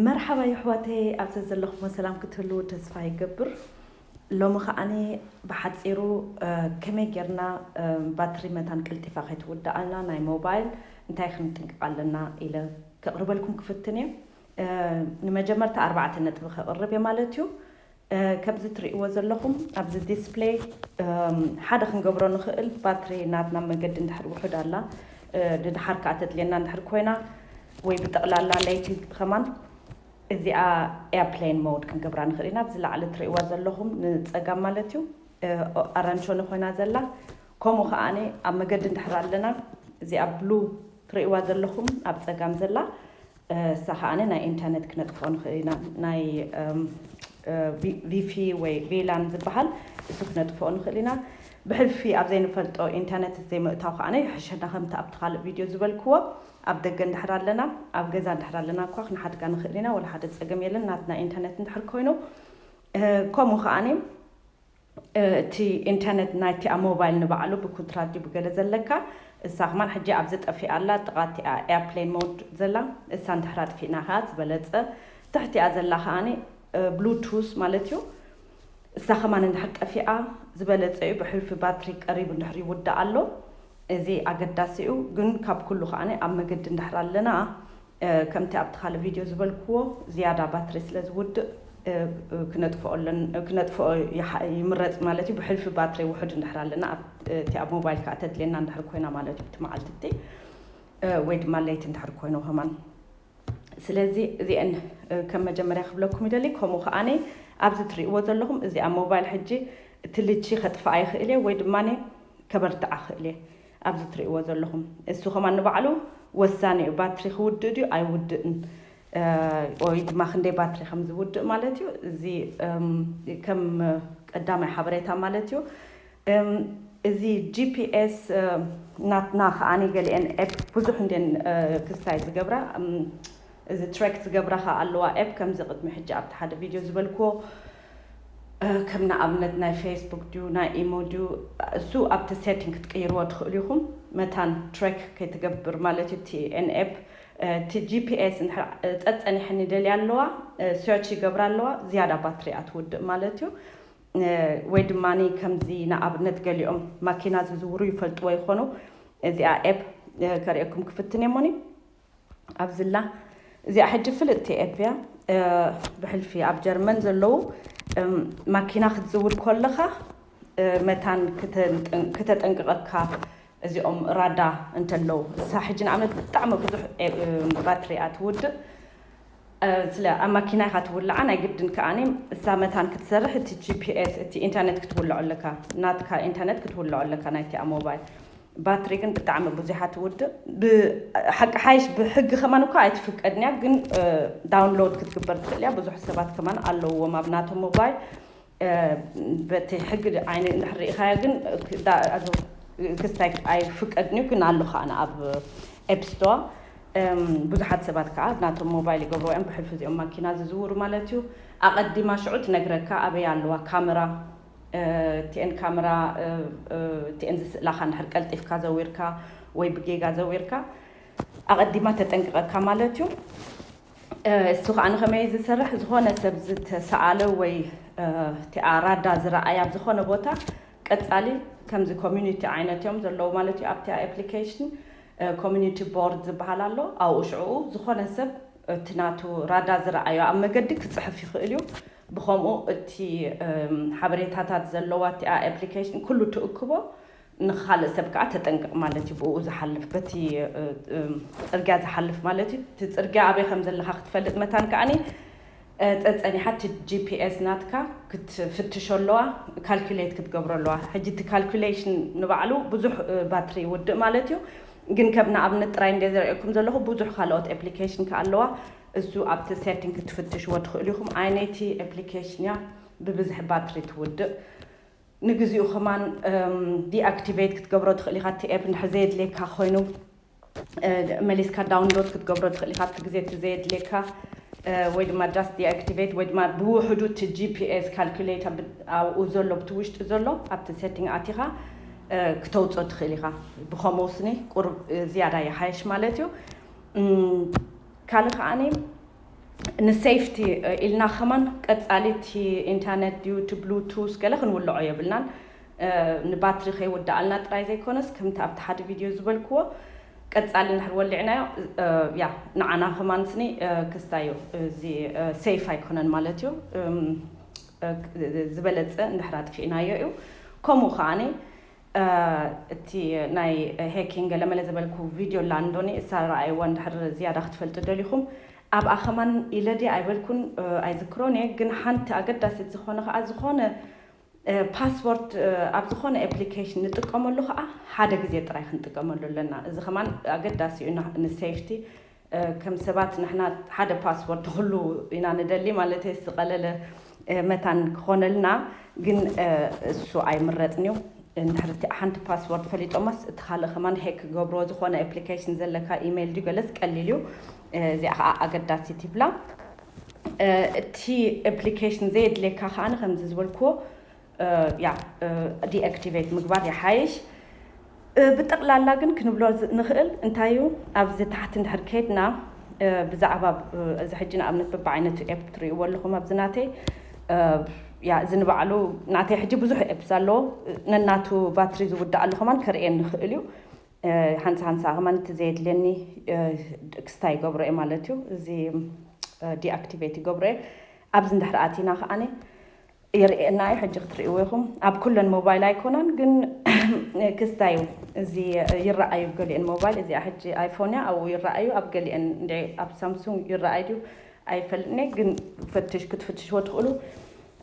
መርሓባ የሕዋተይ ኣብ ዘዘለኹሞ ሰላም ክትህልዉ ተስፋ ይገብር ሎሚ ከኣኒ ብሓጺሩ ከመይ ጌርና ባትሪ መታን ቀልጢፋ ከይትውድኣልና ናይ ሞባይል እንታይ ክንጥንቅቕ ኣለና ኢለ ከቕርበልኩም ክፍትን እየ ንመጀመርታ ኣርባዕተ ነጥቢ ከቕርብ እየ ማለት እዩ ከምዚ ትርእይዎ ዘለኹም ኣብዚ ዲስፕለይ ሓደ ክንገብሮ ንኽእል ባትሪ ናትና መገዲ እንድሕር ውሑድ ኣላ ንድሓር ከኣ ተድልየና እንድሕር ኮይና ወይ ብጠቕላላ ለይቲ ከማን እዚኣ ኤርፕሌን ሞድ ክንገብራ ንኽእል ኢና ኣብዚ ላዕሊ ትርእይዋ ዘለኹም ንጸጋም ማለት እዩ ኣራንሾኒ ኮይና ዘላ ከምኡ ከኣ ኣብ መገዲ እንድሕር ኣለና እዚኣ ብሉ ትርእይዋ ዘለኹም ኣብ ጸጋም ዘላ እሳ ከኣ ናይ ኢንተርነት ክነጥፍኦ ንክእል ኢና ናይ ቪፊ ወይ ቪላን ዝበሃል እሱ ክነጥፍኦ ንክእል ኢና ብሕልፊ ኣብ ዘይንፈልጦ ኢንተርነት ዘይምእታው ከኣ ይሕሸና ከምቲ ኣብቲ ካልእ ቪድዮ ዝበልክዎ ኣብ ደገ እንድሕር ኣለና ኣብ ገዛ እንድሕር ኣለና እኳ ክንሓድጋ ንክእል ኢና ወላ ሓደ ጸገም የለን ናትና ኢንተርነት እንድሕር ኮይኑ ከምኡ ከኣ እቲ ኢንተርነት ናይቲ ኣብ ሞባይል ንባዕሉ ብኩንትራት ድዩ ብገለ ዘለካ እሳ ከማን ሕጂ ኣብዚ ጠፊኣ ኣላ ኣብ ጥቃ እቲኣ ኤርፕሌን ሞድ ዘላ እሳ እንድሕር ኣጥፊእና ከኣ ዝበለጸ ትሕቲኣ ዘላ ከኣ ብሉ ቱዝ ማለት እዩ እሳ ከማን እንድሕር ጠፊኣ ዝበለጸ እዩ ብሕልፊ ባትሪ ቀሪቡ እንድሕር ይውዳእ ኣሎ እዚ ኣገዳሲ እዩ ግን ካብ ኩሉ ከኣ ኣብ መገዲ እንድሕር ኣለና ከምቲ ኣብቲ ካልእ ቪድዮ ዝበልክዎ ዝያዳ ባትሪ ስለ ዝውድእ ክነጥፍኦ ኣለና ክነጥፍኦ ይምረጽ ማለት እዩ ብሕልፊ ባትሪ ውሑድ እንድሕር ኣለና ኣብቲ ኣብ ሞባይል ከኣ ተድልየና እንድሕር ኮይና ማለት እዩ እቲ መዓልቲ እቲ ወይ ድማ ለይቲ እንድሕር ኮይኑ ከማን ስለዚ እዚአን ከም መጀመርያ ክብለኩም ይደሊ ከምኡ ከኣነ ኣብዚ ትርእይዎ ዘለኹም እዚ ኣብ ሞባይል ሕጂ እቲ ልቺ ከጥፍኣ ይኽእል እየ ወይ ድማ ከበርትዓ ክእል እየ ኣብዚ ትርእይዎ ዘለኹም እሱ ከማን ንባዕሉ ወሳኒ እዩ ባትሪ ክውድእ ድዩ ኣይውድእን ኦይ ድማ ክንደይ ባትሪ ከም ዝውድእ ማለት እዩ እዚ ከም ቀዳማይ ሓበሬታ ማለት እዩ እዚ ጂፒኤስ ናትና ከዓኒ ገሊኤን ኤፕ ብዙሕ እንዴን ክስታይ ዝገብራ እዚ ትሬክ ዝገብራ ከ ኣለዋ ኤፕ ከምዚ ቅድሚ ሕጂ ኣብቲ ሓደ ቪድዮ ዝበልክዎ ከም ንኣብነት ናይ ፌስቡክ ድዩ ናይ ኢሞ ድዩ እሱ ኣብቲ ሴቲንግ ክትቅይርዎ ትኽእሉ ኢኹም መታን ትሬክ ከይትገብር ማለት እዩ እቲ ኤንኤፕ እቲ ጂፒኤስ እንድሕር ጸጸኒሐን ይደልያ ኣለዋ ሰርች ይገብራ ኣለዋ ዝያዳ ባትሪ እያ ትውድእ ማለት እዩ ወይ ድማ ከምዚ ንኣብነት ገሊኦም ማኪና ዝዝውሩ ይፈልጥዎ ይኾኑ እዚኣ ኤፕ ከርእየኩም ክፍትን እየ ሞኒ ኣብዚላ እዚኣ ሕጂ ፍልጥቲ ኤፕያ ብሕልፊ ኣብ ጀርመን ዘለዉ ማኪና ክትዝውር ኮለኻ መታን ክተጠንቅቐካ እዚኦም ራዳ እንተለዉ እሳ ሕጂ ንኣብነት ብጣዕሚ ብዙሕ ባትሪያ ትውድእ ስለ ኣብ ማኪና ኢኻ ትውልዓ ናይ ግድን ከኣ እሳ መታን ክትሰርሕ እቲ ጂፒኤስ እቲ ኢንተርኔት ክትውልዖ ኣለካ ናትካ ኢንተርኔት ክትውልዖ ኣለካ ናይቲኣ ሞባይል ባትሪ ግን ብጣዕሚ ቡዚሓ ትውድእ ብሓቂ ሓይሽ ብሕጊ ከማን እኳ ኣይትፍቀድን እያ ግን ዳውንሎድ ክትግበር ትኽእል እያ ብዙሕ ሰባት ከማን ኣለውዎም ኣብ ናቶም ሞባይል በቲ ሕጊ ዓይኒ እንድሕር ርኢኻዮ ግን ክስታይ ኣይፍቀድን'ዩ ግን ኣሎ ከኣ ኣብ ኤፕስቶር ብዙሓት ሰባት ከኣ ናቶም ሞባይል ይገብርዎ እዮም ብሕልፊ እዚኦም ማኪና ዝዝውሩ ማለት እዩ ኣቐዲማ ሽዑ ትነግረካ ኣበይ ኣለዋ ካመራ እቲኤን ካመራ እቲኤን ዝስእላኻ እንድሕር ቀልጢፍካ ዘዊርካ ወይ ብጌጋ ዘዊርካ ኣቐዲማ ተጠንቅቐካ ማለት እዩ እሱ ከኣ ንኸመይ ዝሰርሕ ዝኾነ ሰብ ዝተሰኣለ ወይ እቲኣ ራዳ ዝረኣያ ኣብ ዝኾነ ቦታ ቀጻሊ ከምዚ ኮሚኒቲ ዓይነት እዮም ዘለዉ ማለት እዩ ኣብቲ ኣፕሊኬሽን ኮሚኒቲ ቦርድ ዝበሃል ኣሎ ኣብኡ ሽዕኡ ዝኾነ ሰብ እቲ ናቱ ራዳ ዝረኣዮ ኣብ መገዲ ክጽሕፍ ይኽእል እዩ ብኸምኡ እቲ ሓበሬታታት ዘለዋ እቲኣ ኣፕሊኬሽን ኩሉ ትእክቦ ንኻልእ ሰብ ከኣ ተጠንቀቕ ማለት እዩ፣ ብእኡ ዝሓልፍ በቲ ጽርግያ ዝሓልፍ ማለት እዩ፣ እቲ ጽርግያ ኣበይ ከም ዘለኻ ክትፈልጥ መታን ከኣ ጸጸኒሓ እቲ ጂፒኤስ ናትካ ክትፍትሾ ኣለዋ፣ ካልኩሌት ክትገብሮ ኣለዋ፣ ሕጂ እቲ ካልኩሌሽን ንባዕሉ ብዙሕ ባትሪ ይውድእ ማለት እዩ፣ ግን ከም ንኣብነት ጥራይ እንድየ ዘርእየኩም ዘለኹ ብዙሕ ካልኦት ኤፕሊኬሽን ከኣ ኣለዋ፣ እሱ ኣብቲ ሴቲንግ ክትፍትሽዎ ትኽእሉ ኢኹም፣ ኣየነይቲ ኤፕሊኬሽን እያ ብብዝሒ ባትሪ ትውድእ። ንግዚኡ ከማን ዲኣክቲቬት ክትገብሮ ትኽእል ኢኻ እቲ ኤፕ እንድሕር ዘየድልየካ ኮይኑ መሊስካ ዳውንሎድ ክትገብሮ ትኽእል ኢኻ ኣብቲ ግዜ እቲ ዘየድልየካ ወይ ድማ ጃስት ዲኣክቲቬት ወይ ድማ ብውሕዱ እቲ ጂፒኤስ ካልኩሌት ኣብኡ ዘሎ ኣብቲ ውሽጢ ዘሎ ኣብቲ ሴቲንግ ኣቲኻ ክተውፅኦ ትኽእል ኢኻ ብከምኡ ስኒ ቁሩብ ዝያዳ ይሓየሽ ማለት እዩ ካልእ ከዓኒ ንሴፍቲ ኢልና ከማን ቀጻሊ እቲ ኢንተርነት ድዩ እቲ ብሉቱዝ ገለ ክንውልዖ የብልናን ንባትሪ ከይውድኣልና ጥራይ ዘይኮነስ ከምቲ ኣብቲ ሓደ ቪድዮ ዝበልክዎ ቀጻሊ እንድሕር ወሊዕናዮ ያ ንዓና ከማን ስኒ ክስታይ እዩ እዚ ሴፍ ኣይኮነን ማለት እዩ ዝበለጸ እንድሕር ኣጥፊእናዮ እዩ ከምኡ ከዓኒ እቲ ናይ ሄኪን ገለመለ ዝበልኩ ቪድዮ ኣላ እንዶ ንእሳ ረኣይዋ እንድሕር ዝያዳ ክትፈልጡ ደሊኹም ኣብኣ ከማን ኢለ ድየ ኣይበልኩን ኣይዝክሮን እየ ግን ሓንቲ ኣገዳሲት ዝኾነ ከኣ ዝኾነ ፓስዎርድ ኣብ ዝኾነ ኤፕሊኬሽን ንጥቀመሉ ከኣ ሓደ ግዜ ጥራይ ክንጥቀመሉ ኣለና እዚ ከማን ኣገዳሲ እዩ ንሴፍቲ ከም ሰባት ንሕና ሓደ ፓስወርድ ንኹሉ ኢና ንደሊ ማለተይ ዝቐለለ መታን ክኾነልና ግን እሱ ኣይምረጽን እዩ እንድሕር እቲ ሓንቲ ፓስወርድ ፈሊጦማስ እቲ ካልእ ከማን ሄክ ክገብሮ ዝኾነ ኣፕሊኬሽን ዘለካ ኢሜይል ድዩ ገለስ ቀሊል እዩ እዚኣ ከዓ ኣገዳሲት ይብላ እቲ ኣፕሊኬሽን ዘየድልየካ ከዓኒ ከምዚ ዝበልክዎ ያዕ ዲኣክቲቨት ምግባር ይሓይሽ። ብጠቕላላ ግን ክንብሎ ንኽእል እንታይ እዩ ኣብዚ ታሕቲ እንድሕር ከድና ብዛዕባ እዚ ሕጂ ንኣብነት በብዓይነቱ ኤፕ ትርእይዎ ኣለኹም ኣብዚ ናተይ ያ እዚ ንባዕሉ ናተይ ሕጂ ብዙሕ ኤፕስ ኣለዎ ነናቱ ባትሪ ዝውዳኣሉ ከማን ከርእየን ንኽእል እዩ ሃንሳ ሃንሳ ከማን እቲ ዘየድልየኒ ክስታ ይገብሮ እየ ማለት እዩ እዚ ዲኣክቲቨት ይገብሮ እየ ኣብዚ እንድሕር ኣቲና ከዓኒ የርእየና እዩ ሕጂ ክትርእይዎ ኢኹም ኣብ ኩለን ሞባይል ኣይኮናን ግን ክስታይ እዩ እዚ ይረኣዩ ኣብ ገሊኤን ሞባይል እዚኣ ሕጂ ኣይፎን እያ ኣብኡ ይረኣዩ ኣብ ገሊኤን እንደ ኣብ ሳምሱንግ ይረኣይ ድዩ ኣይፈልጥን እየ ግን ፈትሽ ክትፍትሽዎ ትኽእሉ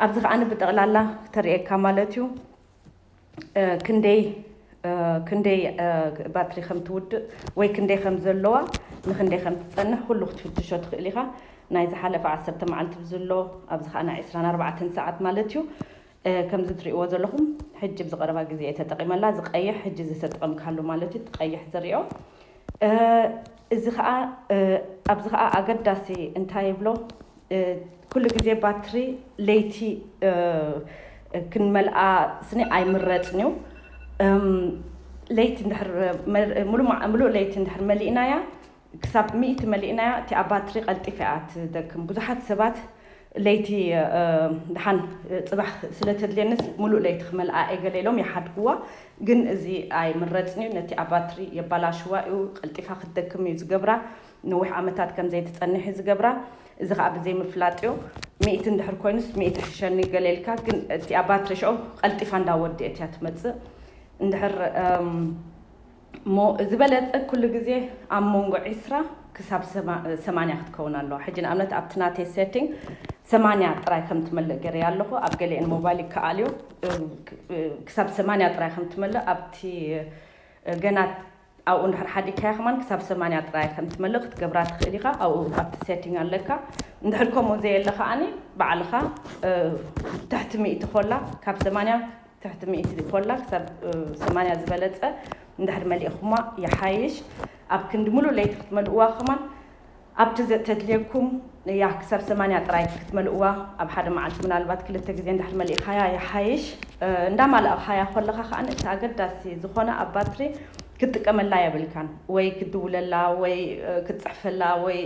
ኣብዚ ከኣ ብጠቕላላ ተርእየካ ማለት እዩ ክንደይ ክንደይ ባትሪ ከም ትውድእ ወይ ክንደይ ከም ዘለዋ ንክንደይ ከም ትጸንሕ ኩሉ ክትፍትሾ ትኽእል ኢኻ ናይ ዝሓለፈ ዓሰርተ መዓልቲ ብዝሎ ኣብዚ ከኣ ናይ ዕስራን ኣርባዕተን ሰዓት ማለት እዩ ከምዚ ትርእይዎ ዘለኹም ሕጂ ብዝቐረባ ግዜ እየ ተጠቒመላ ዝቀይሕ ሕጂ ዝተጠቐምካሉ ማለት እዩ እቲ ቀይሕ ዝርኦ እዚ ከኣ ኣብዚ ከኣ ኣገዳሲ እንታይ ይብሎ ኩሉ ግዜ ባትሪ ለይቲ ክንመልኣ ስኒ ኣይምረጽን እዩ ለይቲ እንድሕር ምሉእ ለይቲ እንድሕር መሊእናያ ክሳብ ሚእቲ መሊእናያ እቲኣ ባትሪ ቀልጢፋ እያ ትደክም ብዙሓት ሰባት ለይቲ ደሓን ጽባሕ ስለ ተድልየኒስ ምሉእ ለይቲ ክመልኣ እየ ገለ ኢሎም ይሓድጉዋ። ግን እዚ ኣይምረጽን'ዩ፣ ነቲ ኣብ ባትሪ የባላሽዋ'ዩ፣ ቀልጢፋ ክትደክም'ዩ ዝገብራ፣ ነዊሕ ዓመታት ከም ዘይትጸንሕ'ዩ ዝገብራ፣ እዚ ከኣ ብዘይምፍላጥዮ። ሚእቲ እንድሕር ኮይኑስ ሚእቲ ይሕሸኒ ገለ ኢልካ፣ ግን እቲኣ ባትሪ ሽዑ ቀልጢፋ እንዳወድኤት'ያ ትመጽእ። እንድሕር። እሞ ዝበለጸ ኩሉ ግዜ ኣብ መንጎ ዕስራ ክሳብ ሰማንያ ክትከውን ኣለዋ። ሕጂ ንኣብነት ኣብቲ ናተይ ሴቲንግ ሰማንያ ጥራይ ከም ትመልእ ገይረያ ኣለኹ። ኣብ ገሊኤን ሞባይል ይከኣል እዩ ክሳብ ሰማንያ ጥራይ ከም ትመልእ ኣብቲ ገና ኣብኡ እንድሕር ሓዲግካያ ከማን ክሳብ ሰማንያ ጥራይ ከም ትመልእ ክትገብራ ትኽእል ኢኻ። ኣብኡ ኣብቲ ሴቲንግ ኣለካ። እንድሕር ከምኡ ዘየለ ከኣኒ ባዕልኻ ትሕቲ ሚእቲ ኮላ ካብ ሰማንያ ትሕቲ ሚእቲ ሊፖላ ክሳብ ሰማንያ ዝበለጸ እንድሕር መሊእኹማ ይሓይሽ። ኣብ ክንዲ ምሉእ ለይቲ ክትመልእዋ ከማን ኣብቲ ዘተድልየኩም እያ ክሳብ ሰማንያ ጥራይ ክትመልእዋ ኣብ ሓደ መዓልቲ ምናልባት ክልተ ግዜ እንድሕር መሊእኻያ ይሓይሽ። እንዳማላእኻያ ኮለኻ ከኣ እቲ ኣገዳሲ ዝኾነ ኣብ ባትሪ ክትጥቀመላ የብልካን። ወይ ክትድውለላ ወይ ክትጽሕፈላ ወይ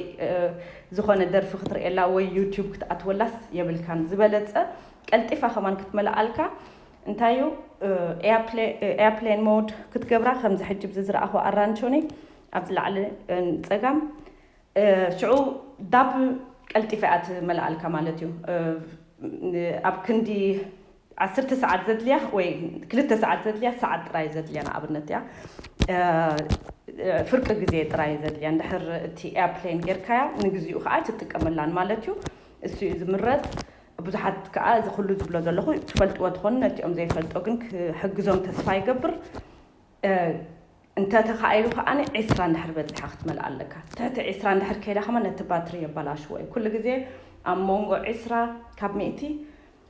ዝኾነ ደርፊ ክትርእየላ ወይ ዩቱብ ክትኣትወላስ የብልካን። ዝበለጸ ቀልጢፋ ከማን ክትመልኣልካ እንታይ እዩ ኤያፕሌን ሞድ ክትገብራ ከምዚ ሕጂ ብዚ ዝረኣኹ ኣራንቾኒ ኣብዚ ላዕሊ ጸጋም ሽዑ ዳብል ቀልጢፋ እያ ትመልኣልካ ማለት እዩ ኣብ ክንዲ ዓሰርተ ሰዓት ዘድልያ ወይ ክልተ ሰዓት ዘድልያ ሰዓት ጥራይ ዘድልያ ንኣብነት እያ ፍርቂ ግዜ ጥራይ ዘድልያ እንድሕር እቲ ኤያፕሌን ጌርካያ ንግዚኡ ከዓ ትጥቀመላን ማለት እዩ እሱ እዩ ዝምረጽ ብዙሓት ከኣ እዚ ኩሉ ዝብሎ ዘለኹ ትፈልጥዎ ትኾኑ ነቲኦም ዘይፈልጦ ግን ክሕግዞም ተስፋ ይገብር እንተ ተኻኢሉ ከኣ ዕስራ እንድሕር በጺሓ ክትመልኣ ኣለካ ትሕቲ ዕስራ እንድሕር ከይዳ ከማን ነቲ ባትሪ የባላሽዎ እዩ ኩሉ ግዜ ኣብ ሞንጎ ዕስራ ካብ ሚእቲ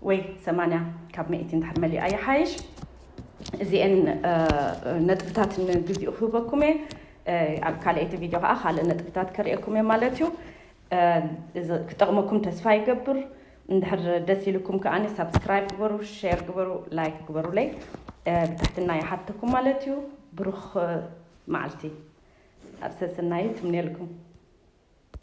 ወይ ሰማንያ ካብ ሚእቲ እንድሕር መሊኣ ይሓይሽ እዚኤን ነጥብታት ንግዚኡ ክህበኩም እየ ኣብ ካልኣይቲ ቪድዮ ከኣ ካልእ ነጥብታት ከርእየኩም እየ ማለት እዩ እዚ ክጠቅመኩም ተስፋ ይገብር እንድሕር ደስ ኢሉኩም ከኣ ሳብስክራይብ ግበሩ ሸር ግበሩ ላይክ ግበሩለይ ብትሕትና ይሓተኩም ማለት እዩ ብሩኽ መዓልቲ ኣብ ሰሰናዩ ትምነየልኩም